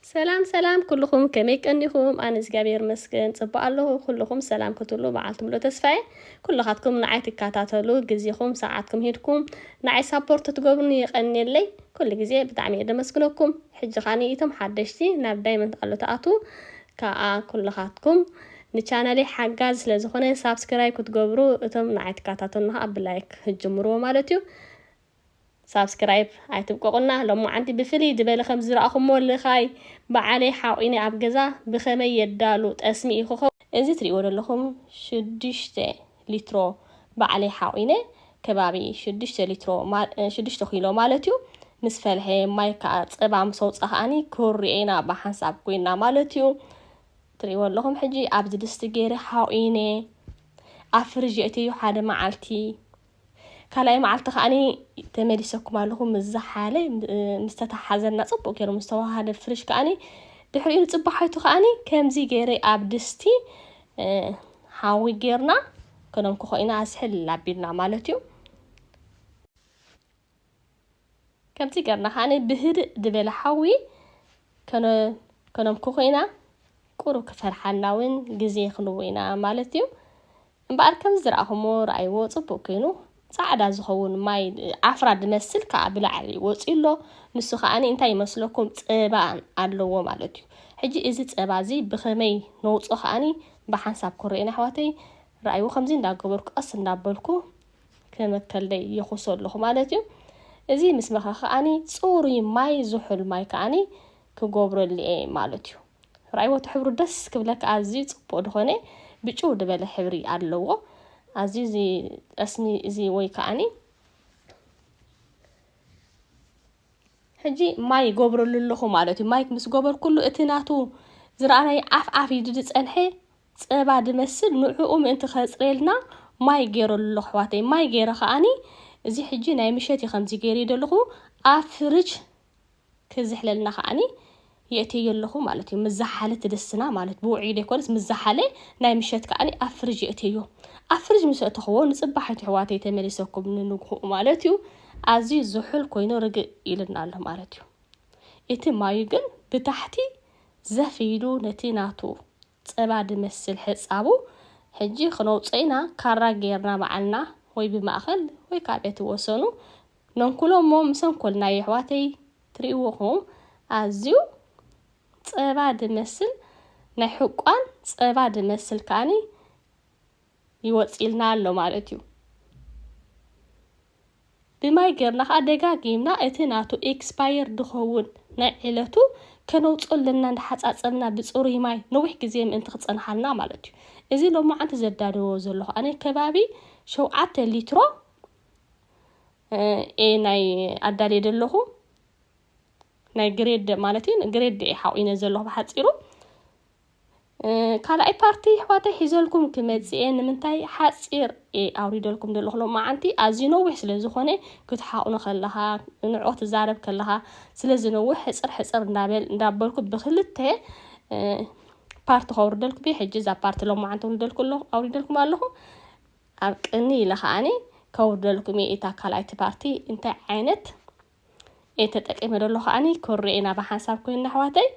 ሰላም ሰላም ኩሉኹም ከመይ ቀኒኹም ኣነ እግዚኣብሔር ይመስገን ጽቡቅ ኣለኹ ኩሉኹም ሰላም ክትብሉ መዓልቲ ምሉእ ተስፋ እየ ኩልኻትኩም ንዓይ ትካታተሉ ግዜኹም ሰዓትኩም ሂድኩም ንዓይ ሳፖርት ትገብሩኒ የቀንየለይ ኩሉ ግዜ ብጣዕሚ እየ ደመስግነኩም ሕጂ ካኒ ኢቶም ሓደሽቲ ናብ ዳይመንት ኣሎ ተኣቱ ከኣ ኩልኻትኩም ንቻነለይ ሓጋዚ ስለ ዝኾነ ሳብስክራይብ ክትገብሩ እቶም ንዓይ ትካታተሉና ከኣ ብላይክ ህጅምርዎ ማለት እዩ ሳብስክራይብ ኣይትብቆቁና ሎማዓንቲ ብፍልይ ድበለ ከምዚ ዝራኣኹሞ ልኻይ ባዓለይ ሓቂኒ ኣብ ገዛ ብኸመይ የዳሉ ጠስሚ እዩ ክኸው። እዚ ትሪእዎ ደለኹም ሽዱሽተ ሊትሮ ባዕለይ ሓቂነ ከባቢ ሽዱሽተ ሊትሮ ሽዱሽተ ኪሎ ማለት እዩ ምስ ፈልሐ ማይ ካኣ ጸባ ምስ ኣውጻ ካኣኒ ክርኦ ኢና ብሓንሳብ ኮይና ማለት እዩ ትሪእዎ ኣለኹም ሕጂ ኣብዚ ድስቲ ገይረ ሓቂነ ኣብ ፍርጅ የእተዮ ሓደ ማዓልቲ ካልኣይ መዓልቲ ከኣ ተመሊሰኩም ኣለኹ ምስ ዝሓለ ምስ ተተሓዘና ጽቡቕ ገይሩ ምስ ተዋሃደ ፍርሽ ከኣ ድሕሪኡ ንጽባሓይቱ ከኣ ከምዚ ገይረ ኣብ ድስቲ ሓዊ ጌርና ከነንክኾ ኢና ኣዝሕል ኣቢልና ማለት እዩ። ከምዚ ገርና ከኣ ብህድእ ድበለ ሓዊ ከነምኩ ኮይና ቁሩብ ክፈርሓና ውን ግዜ ክንቦ ኢና ማለት እዩ እምበኣር ከምዚ ዝረኣኹሞ ረኣይዎ ጽቡቅ ኮይኑ ጻዕዳ ዝኸውን ማይ ዓፍራ ድመስል ከኣ ብላዕሊ ወጽዩ ኣሎ ንሱ ከኣ እንታይ ይመስለኩም ጸባ ኣለዎ ማለት እዩ ሕጂ እዚ ጸባ እዚ ብኸመይ ነውጾ ከኣ ብሓንሳብ ክረኡና ኣሕዋተይ ረኣይዎ ከምዚ እንዳገበርኩ ቀስ እንዳበልኩ ከመከልደይ የኹሶ ኣለኹ ማለት እዩ እዚ ምስ መኸ ከዓኒ ጽሩይ ማይ ዝሑል ማይ ከዓኒ ክጎብረሉ እየ ማለት እዩ ራይወቱ ሕብሩ ደስ ክብለካ ኣዝዩ ጽቡቅ ድኾነ ብጭው ድበለ ሕብሪ ኣለዎ ኣዝዩ እዚ ጠስሚ እዚ ወይ ከዓኒ ሕጂ ማይ ይገብረሉ ኣለኹ ማለት እዩ ማይ ምስ ገበርኩሉ እቲ ናቱ ዝረኣናይ ዓፍ ዓፍ ኢሉ ዝጸንሐ ጸባ ድመስል ንዑኡ ምእንቲ ከጽርየልና ማይ ጌረሉ ኣለኩ ኣሕዋተይ ማይ ጌረ ከኣኒ እዚ ሕጂ ናይ ምሸት እዩ ከምዚ ጌርዮ ዘለኩ ኣብ ፍርጅ ክዝሕለልና ከኣኒ የእትየዮ ኣለኩ ማለት እዩ ምስ ዝሓለ ትድስና ማለት ብውዑይ ደይኮነስ ምስ ዝሓለ ናይ ምሸት ከኣኒ ኣብ ፍርጅ የእትየዮ ኣብ ፍርጅ ምስ ኣእተክዎ ንጽባሒቱ ኣሕዋተይ ተመሊሰኩም ንንግሁኡ ማለት እዩ ኣዝዩ ዝሑል ኮይኑ ርግእ ኢሉና ኣሎ ማለት እዩ እቲ ማዩ ግን ብታሕቲ ዘፍ ኢሉ ነቲ ናቱ ጸባ ድመስል ሕጻቡ፣ ሕጂ ክነውጽኦ ኢና ካራ ገይርና ባዕልና ወይ ብማእከል ወይ ካብ በቲ ወሰኑ ነንኩሎ እሞ ምስ ኣንኮልናዮ ኣሕዋተይ ትሪእዎ ኹም ኣዝዩ ጸባ ድመስል ናይ ሕቋን ጸባ ድመስል ከኣኒ ይወጽእልና ኣሎ ማለት እዩ። ብማይ ገርና ከኣ ደጋጊምና እቲ ናቱ ኤክስፓየር ድኸውን ናይ ዕለቱ ከነውጽኦ ኣለና እንዳሓጻጸብና ብጽሩይ ማይ ነዊሕ ግዜ ምእንቲ ክጸንሓልና ማለት እዩ እዚ ሎማዓንቲ ዘዳልዎ ዘለኹ ኣነ ከባቢ ሸውዓተ ሊትሮ ኤ ናይ ኣዳልየ ዘለኹ ናይ ግሬድ ማለት እዩ ግሬድ ኤ ሓቂነ ዘለኹ ብሓጺሩ ካልኣይ ፓርቲ ኣሕዋተይ ሒዘልኩም ክመጽእ እየ ንምንታይ ሓጺር እየ ኣውሪደልኩም ዘለኹ ሎማዓንቲ ኣዝዩ ነዊሕ ስለ ዝኾነ ክትሓቑኑ ከለኻ ንዕኦ ትዛረብ ከለኻ ስለ ዝነውሕ ሕጽር ሕጽር እንዳበል እንዳበልኩ ብክልተ ፓርቲ ከውርደልኩም እየ ሕጂ እዛ ፓርቲ ሎማዓንቲ ውርደልኩ ኣለኹ ኣውሪደልኩም ኣለኹ ኣብ ቅኒ ኢለ ከዓኒ ከውርደልኩም እየ እታ ካልኣይቲ ፓርቲ እንታይ ዓይነት እየ ተጠቂመ ደሎ ከዓኒ ክርኤና ብሓንሳብ ኮይና ኣሕዋተይ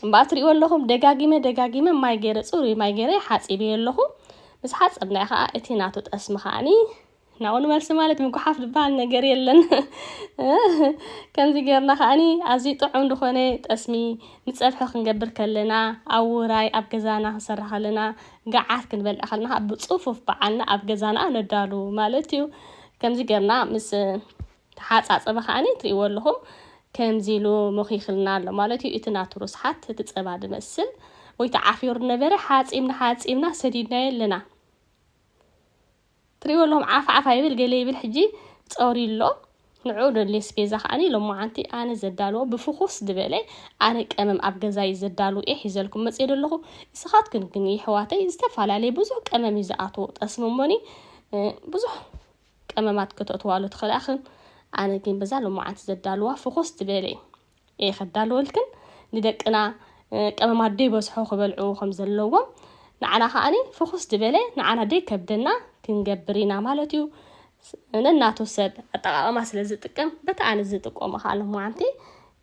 እምበኣር ትርእይዎ ኣለኹም ደጋጊመ ደጋጊመ ማይ ገይረ ጽሩይ ማይ ገይረ ሓጺበዮ ኣለኹ ምስ ሓጸብናዮ ከዓ እቲ ናቱ ጠስሚ ከዓኒ ናብኡ ንመልሲ ማለት ምጉሓፍ ዝበሃል ነገር የለን ከምዚ ጌርና ከዓኒ ኣዝዩ ጥዑም ዝኾነ ጠስሚ ንጸብሒ ክንገብር ከለና ኣብ ውራይ ኣብ ገዛና ክንሰርሕ ከለና ገዓት ክንበልዕ ከለና ብጽፉፍ በዓልና ኣብ ገዛና ነዳሉ ማለት እዩ ከምዚ ጌርና ምስ ተሓጻጸበ ከኣ ትርእይዎ ኣለኹም ከምዚ ኢሉ ሞኺኽልና ኣሎ ማለት እዩ እቲ ናቱ ርስሓት እቲ ጸባ ዝመስል ወይ ተዓፊሩ ነበረ ሓጺብና ሓጺብና ሰዲድናዮ ኣለና ትርእይዎ ኣለኹም ዓፍ ዓፍ ኣይብል ገለ ይብል ሕጂ ጸውሪ ኣሎ ንዑ ዶ ሌስፔዛ ከኣ ሎማዓንቲ ኣነ ዘዳልዎ ብፍኹስ ዝበለ ኣነ ቀመም ኣብ ገዛይ ዘዳልው እየ ሒዘልኩም መጽየ ደለኹ እስኻትክን ግን ይሕዋተይ ዝተፈላለየ ብዙሕ ቀመም እዩ ዝኣትዎ ጠስሚ እሞኒ ብዙሕ ቀመማት ከተእትዋሉ ትኽእላ እኽን ኣነ ግን በዛ ሎማዓንቲ ዘዳልዋ ፍኹስ ትበለ እየ ከዳልወልክን ንደቅና ቀመማት ደይበዝሖ ክበልዑ ከም ዘለዎም ንዓና ከዓኒ ፍኹስ ዝበለ ንዓና ደይከብደና ክንገብር ኢና ማለት እዩ ነናቱ ሰብ ኣጠቃቅማ ስለ ዝጥቀም በቲ ኣነ ዝጥቀሞ ከዓ ሎማዓንቲ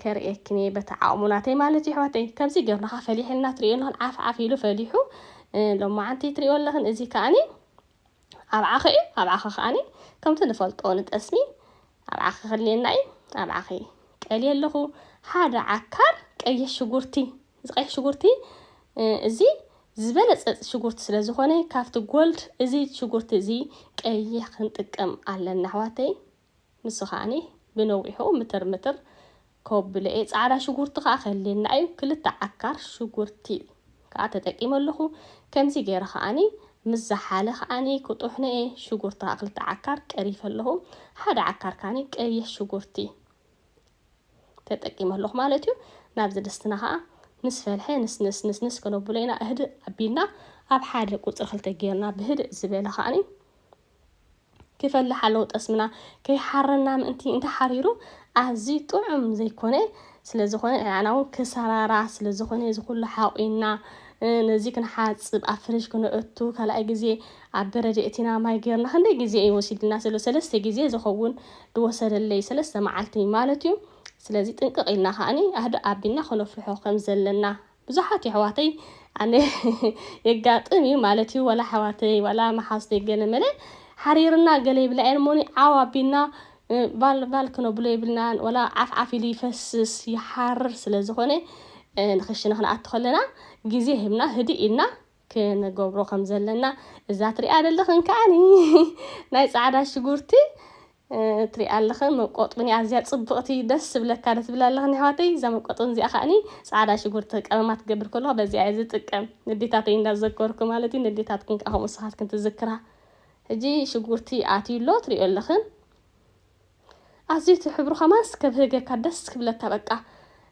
ከርእየክን እየ በቲ ዓቕሙ ናተይ ማለት እዩ ኣሕዋተይ ከምዚ ገርና ከዓ ፈሊሐልና ትሪኦ ኣለኽን ዓፍ ዓፍ ኢሉ ፈሊሑ ሎማዓንቲ ትሪኦ ኣለኽን እዚ ከዓኒ ኣብዓኺ እዩ ኣብዓኺ ከዓኒ ከምቲ ንፈልጦ ንጠስሚ ኣብዓኺ ክልየና እዩ ኣብዓኺ ቀልየ ኣለኹ ሓደ ዓካር ቀይሕ ሽጉርቲ እዚ ቀይሕ ሽጉርቲ እዚ ዝበለፀ ሽጉርቲ ስለ ዝኾነ ካብቲ ጎልድ እዚ ሽጉርቲ እዚ ቀይሕ ክንጥቀም ኣለና ኣሕዋተይ ንሱ ከኣ ብነዊሑ ምትር ምትር ከብሎ እየ። ጻዕዳ ሽጉርቲ ከኣ ክህልየና እዩ። ክልተ ዓካር ሽጉርቲ ከኣ ተጠቂመ ኣለኹ። ከምዚ ገይረ ከኣ ምስ ዝሓለ ከኣ ክጥሕኖ እየ። ሽጉርቲ ከኣ ክልተ ዓካር ቀሪፈ ኣለኹ። ሓደ ዓካር ከኣ ቀይሕ ሽጉርቲ ተጠቂመ ኣለኹ ማለት እዩ። ናብዚ ድስትና ከኣ ምስ ፈልሐ ንስንስ ንስንስ ከነብሎ ኢና። እህድእ ኣቢልና ኣብ ሓደ ቁጽሪ ክልተ ጌርና ብህድእ ዝበለ ከኣ ክፈልሕ ኣለዎ ጠስምና ከይሓረና ምእንቲ እንተ ሓሪሩ ኣዝዩ ጥዑም ዘይኮነ ስለዝኾነ ንዓና እውን ክሰራራ ስለዝኾነ እዚ ኩሉ ሓቑና ነዚ ክንሓጽብ ኣብ ፍርሽ ክነእቱ ካልኣይ ግዜ ኣብ በረድ የእቲና ማይ ጌርና ክንደይ ግዜ እዩ ወሲድልና ስለ ሰለስተ ግዜ ዝኸውን ዝወሰደለይ ሰለስተ መዓልቲ ማለት እዩ ስለዚ ጥንቅቕ ኢልና ከዓኒ ኣህዶ ኣቢልና ክነፍርሖ ከም ዘለና ብዙሓት የሕዋተይ ኣነ የጋጥም እዩ ማለት እዩ ወላ ኣሕዋተይ ወላ መሓዝተይ ገለ መለ ሓሪርና ገለ ይብላ እየን እሞኒ ዓው ኣቢልና ባል ባል ክነብሎ የብልናን ወላ ዓፍ ዓፍ ኢሉ ይፈስስ ይሓርር ስለ ዝኾነ ንክሽነ ክንኣቱ ከለና ግዜ ህብና ህድእ ኢልና ክንገብሮ ከም ዘለና እዛ ትሪኣ ኣለኽን ከዓኒ ናይ ፃዕዳ ሽጉርቲ ትሪኣ ኣለኽን መቆጥብን ኣዝያ ፅብቕቲ ደስ ዝብለካ ዶ ትብል ኣለኽን ኣሕዋተይ እዛ መቆጥብን እዚኣ ከዓኒ ፃዕዳ ሽጉርቲ ቀመማ ትገብር ከለኹ በዚኣ እየ ዝጥቀም ንዴታተይ እንዳዘከርኩ ማለት እዩ ንዴታትክን ከዓ ከምኡ ንስኻትክን ትዝክራ ሕጂ ሽጉርቲ ኣትዩ ኣሎ ትሪኦ ኣለኽን ኣዝዩ እቲ ሕብሩ ከማንስ ከብህገካ ደስ ክብለካ በቃ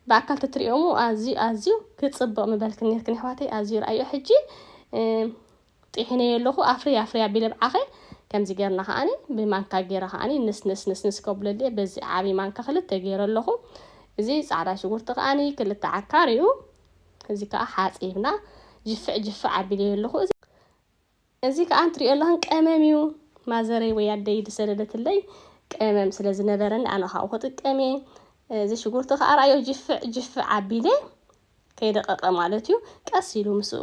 ብኣካል ተትሪኦሙ ኣዝዩ ኣዝዩ ክጽብቕ ምበልክን ኔርክን ኣሕዋተይ ኣዝዩ ርኣዮ ሕጂ ጢሒነዮ ኣለኹ ኣፍርይ ኣፍርይ ኣቢለ ብዓኸ ከምዚ ጌርና ከዓኒ ብማንካ ጌረ ከዓኒ ንስንስ ንስንስ ከብለልየ በዚ ዓብዪ ማንካ ክልተ ጌረ ኣለኹ እዚ ጻዕዳ ሽጉርቲ ከዓኒ ክልተ ዓካር እዩ እዚ ከዓ ሓጺብና ጅፍዕ ጅፍዕ ኣቢለዮ ኣለኹ እዚ ከኣ እንትሪኦ ኣለኩ ቀመም እዩ ማዘረይ ወይ ኣደይ ዝሰደደትለይ ቀመም ስለ ዝነበረኒ ኣነ ካብኡ ክጥቀም እየ እዚ ሽጉርቲ ከኣ ራእዮ ጅፍዕ ጅፍዕ ኣቢለ ከይደቀቀ ማለት እዩ ቀስ ኢሉ ምስኡ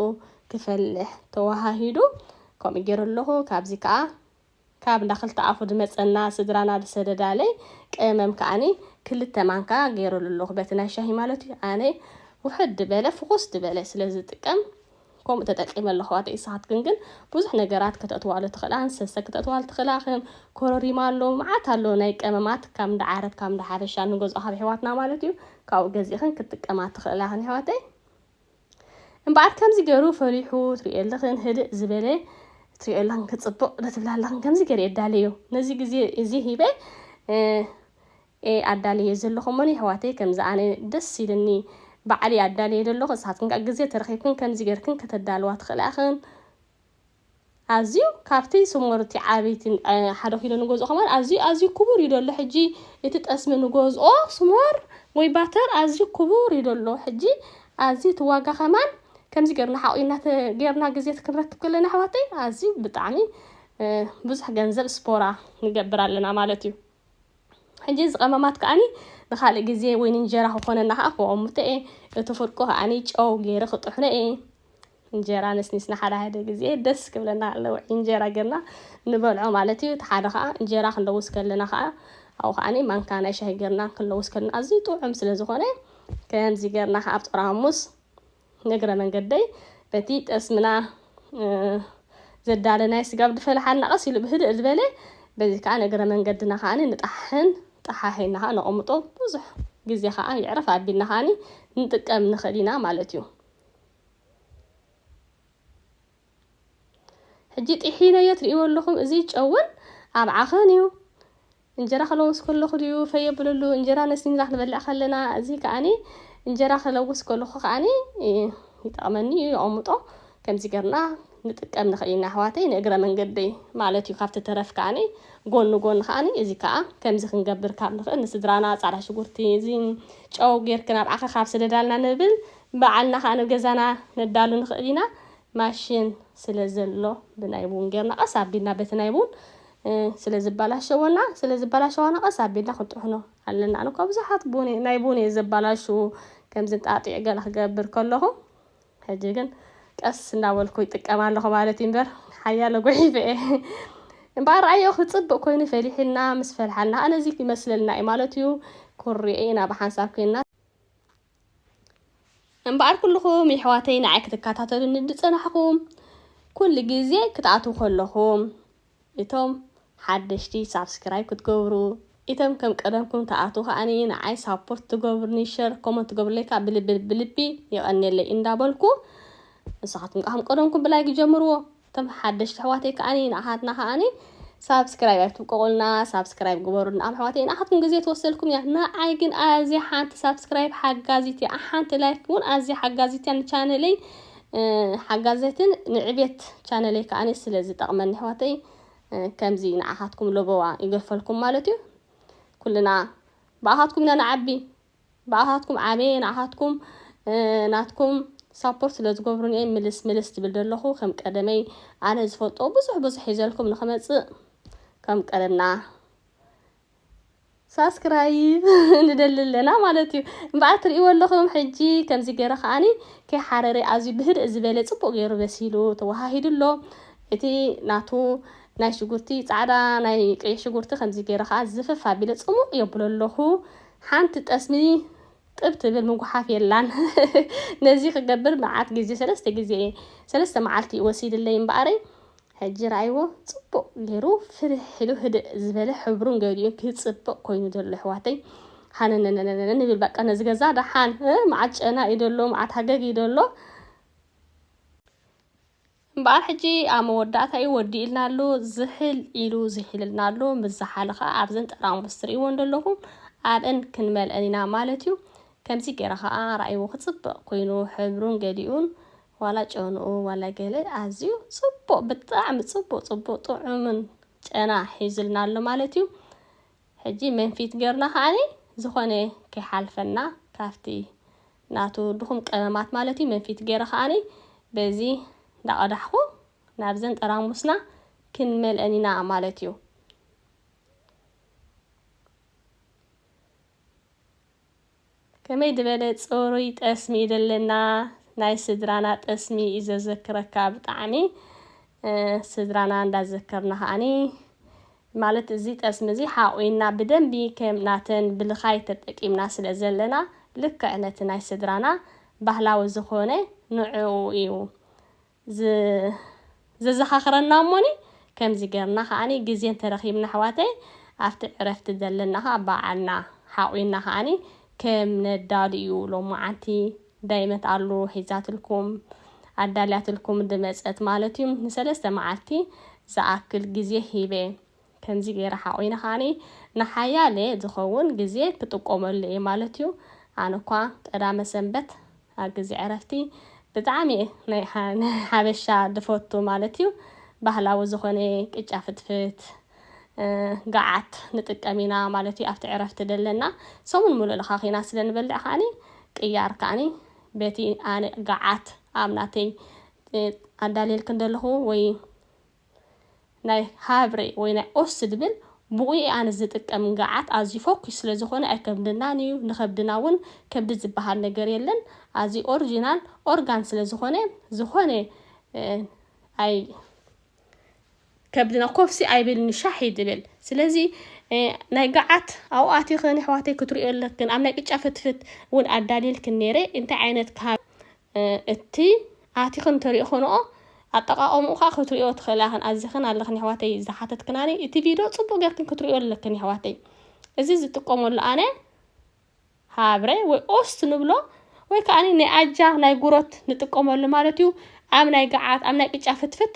ክፈልሕ ተወሃሂዱ ከምኡ ገይረ ኣለኩ ካብዚ ከኣ ካብ እንዳ ክልተ ኣፉ ድመጸና ስድራና ድሰደዳለይ ቀመም ከኣኒ ክልተ ማንካ ገይረሉ ኣለኩ በቲ ናይ ሻሂ ማለት እዩ ኣነ ውሕድ ድበለ ፍኩስ ድበለ ስለ ዝጥቀም ከምኡ ተጠቂመ ኣለኩ ኣሕዋተይ ንስካትክን ግን ብዙሕ ነገራት ከተእትዋሉ ትክእላ ንሰሰ ክተእትዋሉ ትክእላ ከም ኮረሪማ ኣሎ መዓት ኣሎ ናይ ቀመማት ካብ እንዳ ዓረብ ካብ እንዳ ሓበሻ ንገዝኦ ካብ ኣሕዋትና ማለት እዩ ካብኡ ገዚእክን ክትጥቀማ ትክእላ ክን ኣሕዋተይ እምበኣር ከምዚ ገሩ ፈሪሑ ትሪኦ ኣለኽን ህድእ ዝበለ ትሪኦ ኣለኽን ክጽብቕ ዶ ትብላ ኣለኽን ከምዚ ገረ የዳለዮ ነዚ ግዜ እዚ ሂበ ኤ ኣዳለዮ ዘለኹ እሞ የሕዋተይ ከምዚ ኣነ ደስ ኢልኒ ባዕለይ ኣዳለዮ ዘለኹ ንስኻትክን ከኣ ግዜ ተረኺብክን ከምዚ ገርክን ከተዳልዋ ትኽእላ ኢኽን። ኣዝዩ ካብቲ ስሙርቲ ዓቢይቲ ሓደ ኪሎ ንገዝኦ ከማን ኣዝዩ ኣዝዩ ክቡር እዩ ደሎ ሕጂ እቲ ጠስሚ ንገዝኦ ስሞር ወይ ባተር ኣዝዩ ክቡር እዩ ደሎ ሕጂ ኣዝዩ እቲ ዋጋ ከማን ከምዚ ገርና ሓቂና ገርና ግዜት ክንረክብ ከለና ኣሕዋተይ ኣዝዩ ብጣዕሚ ብዙሕ ገንዘብ ስፖራ ንገብር ኣለና ማለት እዩ። ሕጂ እዚ ቀመማት ከኣኒ ንካልእ ግዜ ወይ ንእንጀራ ክኾነና ከኣ ክወቅምቶ እየ እቲ ፍርቁ ከኣኒ ጨው ገይረ ክጥሕኖ እየ እንጀራ ነስኒስና ሓደ ሓደ ግዜ ደስ ክብለና ኣሎ ውዒ እንጀራ ገርና ንበልዖ ማለት እዩ እቲ ሓደ ከኣ እንጀራ ክንለውስ ከለና ከኣ ኣብኡ ከኣኒ ማንካ ናይ ሻሂ ገርና ክንለውስ ከለና ኣዝዩ ጥዑም ስለ ዝኾነ ከምዚ ገርና ከኣ ኣብ ጦር ሃሙስ ንእግረ መንገደይ በቲ ጠስምና ዘዳለ ናይ ስጋብ ድፈለሓና ቀስ ኢሉ ብህድእ ዝበለ በዚ ከዓ ንእግረ መንገድና ከዓ ንጣሕን ጠሓሒና ከዓ ነቐምጦ ብዙሕ ግዜ ከዓ ይዕረፍ ኣቢልና ከዓ ንጥቀም ንኽእል ኢና ማለት እዩ ሕጂ ጢሒነዮ ትርእይዎ ኣለኹም እዚ ጨውን ኣብ ዓኸን እዩ እንጀራ ክለውስ ከለኹ ድዩ ፈይ የብለሉ እንጀራ ነሲንና ክንበልዕ ከለና እዚ ከኣኒ እንጀራ ክለውስ ከለኹ ከኣኒ ይጠቕመኒ እዩ የቐምጦ ከምዚ ገርና ንጥቀም ንኽእል ኢና ኣሕዋተይ ንእግረ መንገደይ ማለት እዩ ካብቲ ተረፍ ከኣኒ ጎኒ ጎኒ ከኣኒ እዚ ከኣ ከምዚ ክንገብር ካብ ንኽእል ንስድራና ጻዕዳ ሽጉርቲ እዚ ጨው ጌርክን ኣብ ዓኸ ካብ ስደዳልና ንብል በዓልና ከኣ ንገዛና ነዳሉ ንኽእል ኢና ማሽን ስለ ዘሎ ብናይ ቡን ጌርና ቀስ ኣቢልና በቲ ናይ ቡን ስለ ዝበላሸወና ስለ ዝበላሸዋና ቀስ ኣቢልና ክንጥሕኖ ኣለና ኣነ እኳ ብዙሓት ቡን ናይ ቡን እየ ዘበላሹ ከምዚ ጣጢዕ ገለ ክገብር ከለኹ ሕጂ ግን ቀስ እናበልኩ ይጥቀም ኣለኹ ማለት እዩ እምበር ሓያለ ጉሒፈ እየ እምበኣር ረኣዮ ክፅብቅ ኮይኑ ፈሊሕና ምስ ፈልሓና ኣነዚ ይመስለልና እዩ ማለት እዩ ኩሪኤ ኢና ብሓንሳብ ኮይና እምበኣር ኩልኹም የሕዋተይ ንዓይ ክትከታተሉኒ ዝጸናሕኹም ኩሉ ግዜ ክትኣትዉ ከለኹም እቶም ሓደሽቲ ሳብስክራይብ ክትገብሩ እቶም ከም ቀደምኩም ትኣትዉ ከኣ ንዓይ ሳፖርት ትገብሩኒ ሸር ኮመንት ትገብሩለይ ከኣ ብልቢ ብልቢ የቐንየለይ እንዳበልኩ ንስኻትኩም ከኣ ከም ቀደምኩም ብላይክ ጀምርዎ እቶም ሓደሽቲ ኣሕዋተይ ከኣ ንኣሓትና ከኣ ሳብስክራይብ ኣይትብቀቑልና ሳብስክራይብ ግበሩ ንኣም ኣሕዋተይ ንኣሓትኩም ግዜ ትወስደልኩም እያ ንዓይ ግን ኣዝያ ሓንቲ ሳብስክራይብ ሓጋዚት እያ ሓንቲ ላይክ እውን ኣዝያ ሓጋዚት እያ ንቻነለይ ሓጋዘትን ንዕቤት ቻነለይ ከዓ ስለ ዝጠቕመኒ ኣሕዋተይ ከምዚ ንዓኻትኩም ለበዋ ይገፈልኩም ማለት እዩ ኩልና ብኣኻትኩም ኢና ንዓቢ ብኣኻትኩም ዓብየ ንዓኻትኩም ናትኩም ሳፖርት ስለ ዝገብሩኒ እየ ምልስ ምልስ ዝብል ዘለኹ ከም ቀደመይ ኣነ ዝፈልጦ ብዙሕ ብዙሕ ሒዘልኩም ንክመፅእ ከም ቀደምና ሳስክራይብ ንደሊ ኣለና ማለት እዩ እምበኣር ትርእይዎ ኣለኹም ሕጂ ከምዚ ገይረ ከዓኒ ከይሓረረ ኣዝዩ ብህድእ ዝበለ ፅቡቅ ገይሩ በሲሉ ተወሃሂዱ ኣሎ እቲ ናቱ ናይ ሽጉርቲ ፃዕዳ ናይ ቀይሕ ሽጉርቲ ከምዚ ገይረ ከዓ ዝፍፍ ኣቢለ ፅሙቅ የብሎ ኣለኹ ሓንቲ ጠስሚ ጥብ ትብል ምጉሓፍ የላን ነዚ ክገብር መዓት ግዜ ሰለስተ ግዜ እየ ሰለስተ መዓልቲ እዩ ወሲድለይ እምበኣረይ ሕጂ ረኣይዎ ጽቡቅ ጌሩ ፍርሕ ኢሉ ህድእ ዝበለ ሕብሩን ገሊኡን ክጽብቅ ኮይኑ ዘሎ ኣሕዋተይ ሃነነነነነ ንብል በቃ ነዚ ገዛ ደሓን መዓት ጨና እዩ ዘሎ መዓት ሃገግ እዩ ዘሎ እምበኣር ሕጂ ኣብ መወዳእታ እዩ ወዲኡልና ኣሎ ዝሕል ኢሉ ዝሒልልና ኣሎ ምስ ዝሓለ ከኣ ኣብዘን ጠራሙስ ትርእይወን ዘለኹም ኣብእን ክንመልእን ኢና ማለት እዩ ከምዚ ገይረ ከኣ ራእይዎ ክጽብቕ ኮይኑ ሕብሩን ገሊኡን ዋላ ጨንኡ ዋላ ገለ ኣዝዩ ጽቡቕ ብጣዕሚ ጽቡቕ ጽቡቕ ጥዑምን ጨና ሒዙልና ኣሎ ማለት እዩ ሕጂ መንፊት ገርና ከኣኒ ዝኾነ ከይሓልፈና ካብቲ ናቱ ድኹም ቀመማት ማለት እዩ መንፊት ገይረ ከኣ በዚ እንዳቀዳሕኩ ናብዘን ጠራሙስና ክንመልአን ኢና ማለት እዩ። ከመይ ዝበለ ጽሩይ ጠስሚ እዩ ዘለና ናይ ስድራና ጠስሚ እዩ ዘዘክረካ ብጣዕሚ ስድራና እንዳዘከርና ከኣኒ ማለት እዚ ጠስሚ እዚ ሓቝና ብደንቢ ከም ናተን ብልኻይ ተጠቂምና ስለ ዘለና ልክዕ ነቲ ናይ ስድራና ባህላዊ ዝኾነ ንዕኡ እዩ ዘዘኻኽረና እሞኒ ከምዚ ገርና ከኣ ግዜ እንተረኺብና ኣሕዋተይ ኣብቲ ዕረፍቲ ዘለና ከኣ በዓልና ሓቝና ከኣ ከም ነዳሉ እዩ ሎምዓንቲ ዳይመት ኣሉ ሒዛትልኩም ኣዳልያትልኩም ድመጸት ማለት እዩ ንሰለስተ መዓልቲ ዝኣክል ግዜ ሂበ ከምዚ ገይረ ሓቁይነ ከኣ ንሓያለ ዝኸውን ግዜ ክጥቆመሉ እየ ማለት እዩ ኣነ እኳ ቀዳመ ሰንበት ኣብ ግዜ ዕረፍቲ ብጣዕሚ ናይ ሓበሻ ድፈቱ ማለት እዩ ባህላዊ ዝኾነ ቅጫ ፍትፍት ገዓት ንጥቀም ኢና ማለት እዩ ኣብቲ ዕረፍቲ ደለና ሰሙን ምሉእ ለኻኺና ስለ ንበልዕ ከዓኒ ቅያር ከዓኒ በቲ ኣነ ገዓት ኣብ ናተይ ኣዳልየልክ እንደለኹ ወይ ናይ ሃብሬ ወይ ናይ ኦስ ድብል ብኡ ኣነ ዝጥቀም ገዓት ኣዝዩ ፎኪስ ስለ ዝኾነ ኣይከብድናን እዩ ንኸብድና እውን ከብዲ ዝበሃል ነገር የለን ኣዝዩ ኦሪጂናል ኦርጋን ስለ ዝኾነ ዝኾነ ኣይ ከብድና ኮፍሲ ኣይብልን ሻሕ እዩ ዝብል ስለዚ ናይ ገዓት ኣብኡ ኣቲኽን ኣሕዋተይ ክትሪኦ ኣለክን ኣብ ናይ ቅጫ ፍትፍት እውን ኣዳልየልክን ነይረ እንታይ ዓይነት ካብ እቲ ኣቲኽን ተሪእኽንኦ ኣጠቃቀምኡ ከዓ ክትሪኦ ትኽእላ ክን ኣዚኽን ኣለኽን ኣሕዋተይ ዝሓተትክናኒ እቲ ቪድዮ ፅቡቅ ጌርክን ክትሪኦ ኣለክን ኣሕዋተይ እዚ ዝጥቀመሉ ኣነ ሃብረ ወይ ኦስት ንብሎ ወይ ከዓ ናይ ኣጃ ናይ ጉሮት ንጥቀመሉ ማለት እዩ ኣብ ናይ ገዓት ኣብ ናይ ቅጫ ፍትፍት